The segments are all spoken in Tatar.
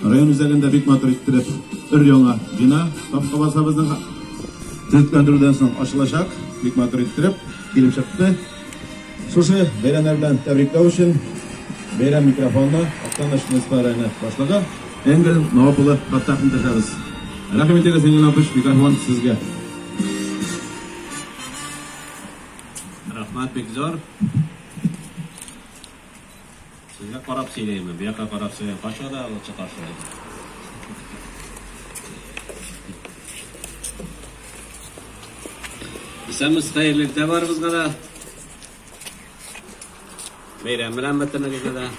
Район үзәгендә бик матур иттереп өр-яңа бина тапка базабызның төзекләндерүдән соң ачылачак. Бик матур иттереп килеп чыкты. Шушы бәйрәмнәр белән тәбрикләү өчен бәйрәм микрофонны Актаныш муниципаль районы башлыгы Энгель Навап улы Фаттаховны төшәбез. Рәхмәт итегез, Энгель Навапыч, микрофон сезгә. Рәхмәт бик зур. Сезгә карап сөйләйме, бу якка карап сөйләйме, кайчан гына лачын каршы алды? Исәнмесез, хәерле иртә барыбызга да. Бәйрәм белән бөтенегезне дә.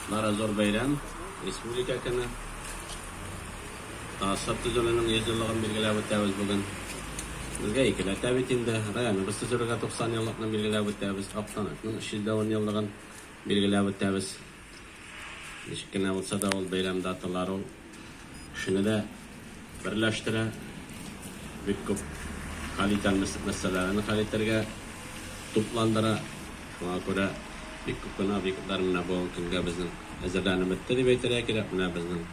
Бары зур бәйрәм, республика көне. Ассад төзелүнең 100 еллыгын билгеләп үтәбез бүген. Безгә икеләтә бит инде. Районыбыз төзелергә 90 еллыкны билгеләп үтәбез. Актанакның 310 еллыгын билгеләп үтәбез. Ничек кенә булса да ул бәйрәм даталары ул кешене дә берләштерә. Бик күп хәл итәр мәсьәләләрне хәл итәргә тупландыра. Шуңа күрә бик күп кенә объектлар менә бүгенге көнгә безнең әзерләнеп бетте дип әйтергә кирәк. Менә безнең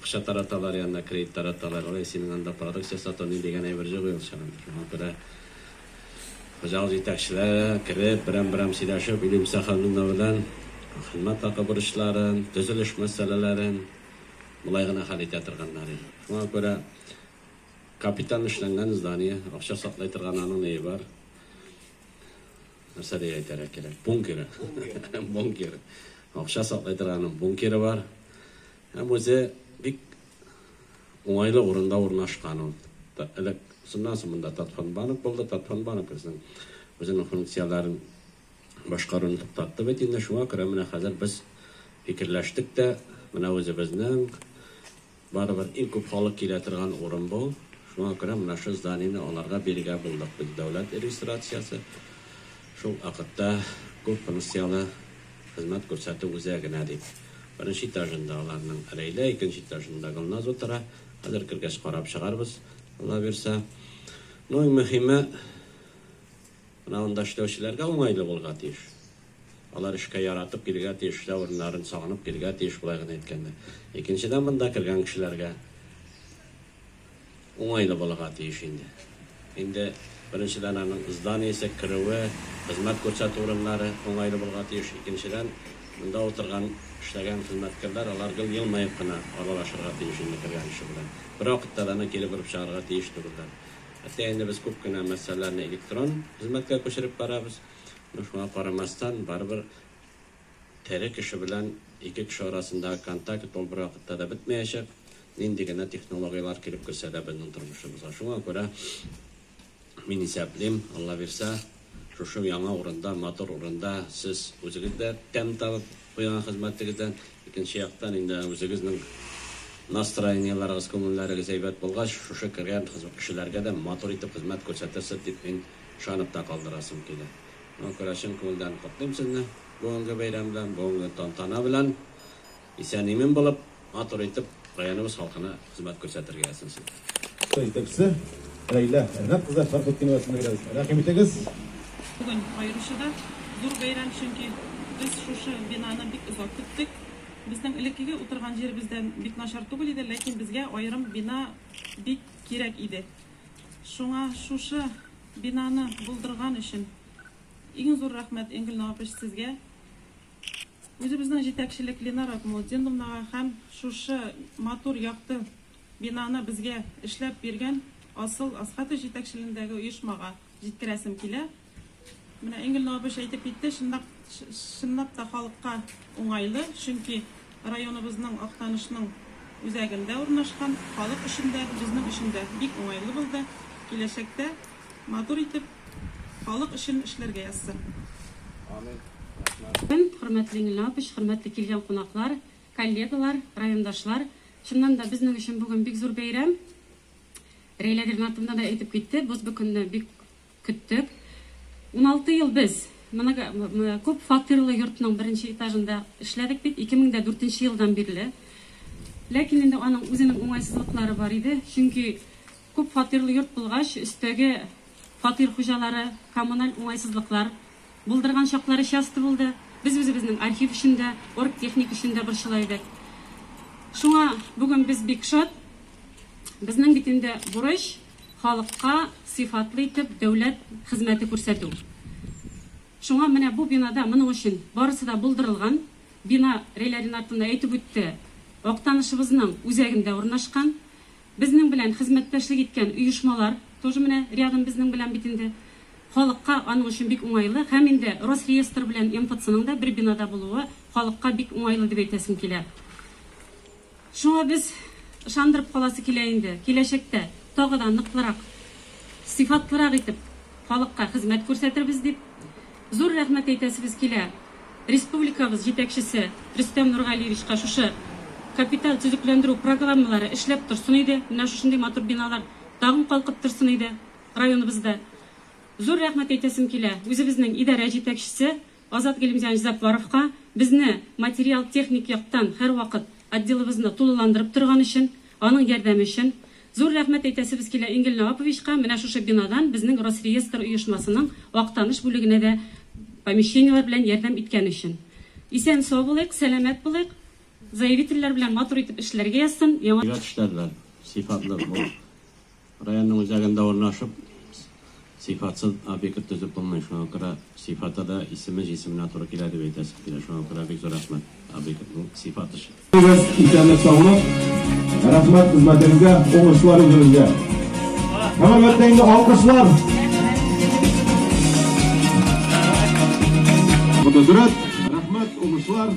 Акча тараталар, янына кредит тараталар. Ой, синең анда продукция сату ни дигән әйбер җук ул чагында. Шуңа күрә хуҗалык җитәкчеләре кереп, берәм-берәм сөйләшеп, Илемса ханымның белән хезмәт хакы бурычларын, төзелеш мәсьәләләрен болай гына хәл итә торганнар иде. Шуңа күрә капиталь эшләнгән здание, акча саклый торган аның ние бар. нәрсә дип әйтергә кирәк, бункеры. Бункер. Акча саклый торган бункеры бар. Һәм үзе бик уңайлы урында урнашкан ул. Элек шуннан соң монда Татфан банк булды, Татфан банк безнең үзенең функцияләрен башкаруны туктатты бит инде, шуңа күрә менә хәзер без фикерләштек тә, менә үзебезнең Барыбер иң күп халык килә торган урын бу. Шуңа күрә менә шу зданиене аларга бирергә булдык без. Дәүләт регистрациясе, шул вакытта күп функцияле хезмәт күрсәтү үзәгенә дип. Беренче этажында аларның Рәйлә, икенче этажында Гөлназ утыра. Хәзер кергәч карап чыгарбыз, Аллабирса. Ну, иң мөһиме, менә анда эшләүчеләргә уңайлы булырга тиеш. Алар эшкә яратып килергә тиеш, эшләү урыннарын сагынып килергә тиеш, болай гына әйткәндә. Икенчедән, монда кергән кешеләргә уңайлы булырга тиеш инде. Инде беренчедән аның зданиесе, керүе, хезмәт күрсәтү урыннары уңайлы булырга тиеш. Икенчедән, монда утырган, эшләгән хезмәткәрләр, алар гел елмаеп кына аралашырга тиеш инде кергән кеше белән. Бервакытта да аны килеп-борып чыгарырга тиеш түгелләр. Әтәй, инде без күп кенә мәсьәләләрне электрон хезмәткә күчереп барабыз. Но шуңа карамастан, барыбер тере кеше белән ике кеше арасындагы контакт ул бервакытта да бетмәячәк, нинди генә технологияләр килеп керсә дә безнең тормышыбызга. Шуңа күрә мин исәплим, Алла бирсә, шушы яңа урында, матур урында сез үзегез дә тәм табып куйган хезмәтегездән, икенче яктан инде үзегезнең настроениеләрегез, күңелләрегез әйбәт булгач, шушы кергән кешеләргә дә матур итеп хезмәт күрсәтерсез дип мин ышанып та калдырасым килә. Шуңа күрә чын күңелдән котлыйм сезне бүгенге бәйрәм белән, бүгенге тантана белән. Исән-имин булып, матур итеп районыбыз халкына хезмәт күрсәтергә ясыйм сезгә. Җитәкчесе, Рәйлә Ренат кызы Фәрхетдинова исемендәге рәвештә рәхим итегез. Бүген аеруча да зур бәйрәм, чөнки без шушы бинаны бик озак көттек. Безнең элеккеге утырган җиребез дә бик начар түгел иде, ләкин безгә аерым бина бик кирәк иде. Шуңа шушы бинаны булдырган өчен иң зур рәхмәт Энгель Новопеш сезгә, үзебезнең җитәкчелек Ленар Акмулдиновнага һәм шушы матур якты бинаны безгә эшләп биргән Асыл Асхатов җитәкчелендәге оешмага җиткерәсем килә. Менә Энгель абыч әйтеп китте, чынлап, чынлап та халыкка уңайлы, чөнки районыбызның Актанышның үзәгендә урнашкан, халык өчен дә, безнең өчен дә бик уңайлы булды. Киләчәктә матур итеп, халык өчен эшләргә язсын. Амин. Рәхмәт. Көн, хөрмәтле Энгель абыч, хөрмәтле килгән кунаклар, коллегалар, райондашлар. Чыннан да, безнең өчен бүген бик зур бәйрәм. Рәйлә Ринатовна да әйтеп китте, без бу көнне бик Көттек. Уналты ел без много күп фатирлы йортның беренче этажында эшләдек бит, ике мең дә дүртенче елдан бирле. Ләкин инде аның үзенең уңайсызлыклары бар иде, чөнки күп фатирлы йорт булгач, өстәге фатир хуҗалары коммуналь уңайсызлыклар булдырган чаклары часто булды. Без үзебезнең архив өчен дә, оргтехник өчен дә борчыла идек. Шуңа бүген без бик шат. Безнең бит инде бурыч. Халыкка сыйфатлы итеп дәүләт хезмәте күрсәтү. Шуңа менә бу бинада моның өчен барысы да булдырылган. Бина, Реләрин артында әйтеп үтте, Актанышыбызның үзәгендә урнашкан. Безнең белән хезмәттәшлек иткән оешмалар тоже менә рядом безнең белән бит инде. Халыкка аның өчен бик уңайлы һәм инде Росреестр белән МФЦның да бер бинада булуы халыкка бик уңайлы дип әйтәсем килә. Шуңа без ышандырып каласы килә инде, киләчәктә тагы да ныклырак, сыйфатлырак итеп халыкка хезмәт күрсәтербез, дип зур рәхмәт әйтәсебез килә республикабыз җитәкчесе Рөстәм Нургалиевичка шушы капиталь төзекләндерү программалары эшләп торсын иде, менә шушындый матур биналар тагын калкып торсын иде районыбызда. Зур рәхмәт әйтәсем килә үзебезнең идарә җитәкчесе Азат Галимҗан Җәппаровка безне материал-техник яктан һәрвакыт отделыбызны тулыландырып торган өчен, аның ярдәме өчен зур рәхмәт әйтәсебез килә, Ингел Наваповичка менә шушы бинадан безнең Росреестр оешмасының Актаныш бүлегенә дә помещениеләр белән ярдәм иткән өчен. Исән-сау булыйк, сәламәт булыйк, заявительләр белән матур итеп эшләргә язсын, яңа. Җәйгә тешләрләр сыйфатлы булып. Районның үзәгендә урнашып, сыйфатсыз объект төзеп булмый. Шуңа күрә сыйфаты да исеме җисеменә туры килә дип әйтәсем килә. Шуңа күрә бик зур рәхмәт объектның сыйфат эше. Егез исәнлек-саулык, рәхмәт хезмәтегезгә, уңышлар үзегезгә. Һәм әлбәттә инде алкышлар. Бу да дөрес. Рәхмәт, уңышлар.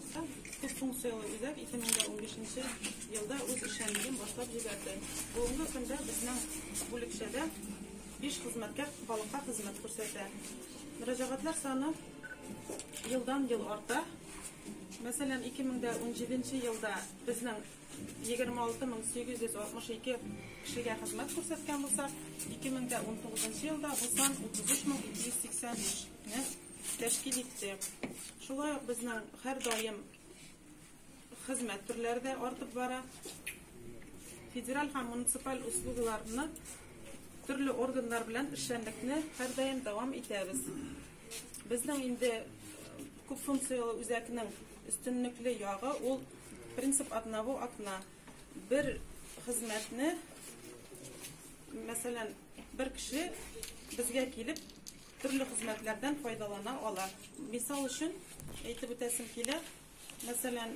Төп функцияле үзәк 2015 елда үз эшчәнлеген башлап җибәрде. Бүгенге көндә безнең бүлекчәдә биш хезмәткәр халыкка хезмәт күрсәтә. Мөрәҗәгатьләр саны елдан-ел арта. Мәсәлән, 2017 елда безнең 26862 кешегә хезмәт күрсәткән булсак, 2019 елда бу сан 33285 не тәшкил иттек. Шулай ук безнең һәрдаим хезмәт төрләре дә артып бара. Федераль һәм муниципаль услугыларны төрле органнар белән эшчәнлекне һәрдаим дәвам итәбез. Безнең инде күп функцияле үзәкнең өстенлекле ягы ул принцип одного окна. Бер хезмәтне, мәсәлән, бер кеше безгә килеп, Төрле хезмәтләрдән файдалана ала. Мисал өчен әйтеп үтәсем килә, мәсәлән,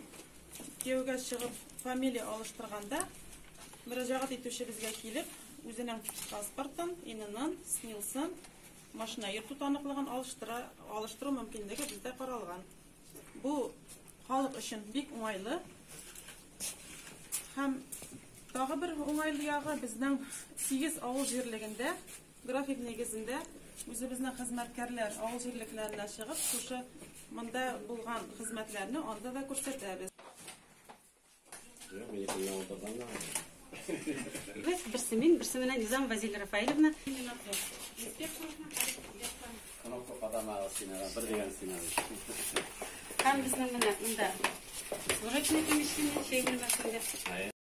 кияүгә чыгып, фамилия алыштырганда, мөрәҗәгать итүчебезгә килеп, үзенең паспортын, ИННын, СНИЛСын, машина йөртү таныклыгын алыштыра, алыштыру мөмкинлеге бездә каралган. Бу халык өчен бик уңайлы. Һәм тагы бер уңайлы ягы, безнең сигез авыл җирлегендә График нигезендә үзебезнең хезмәткәрләр авыл җирлекләренә чыгып, шушы монда булган хезмәтләрне анда да күрсәтәбез. Без, берсе мин, берсе менә Низам Вазиль Рафаилевна. Кнопка кадамагы синага, бер дигән синага. Һәм безнең менә монда служебный помещение, чәй бүлмәсендә.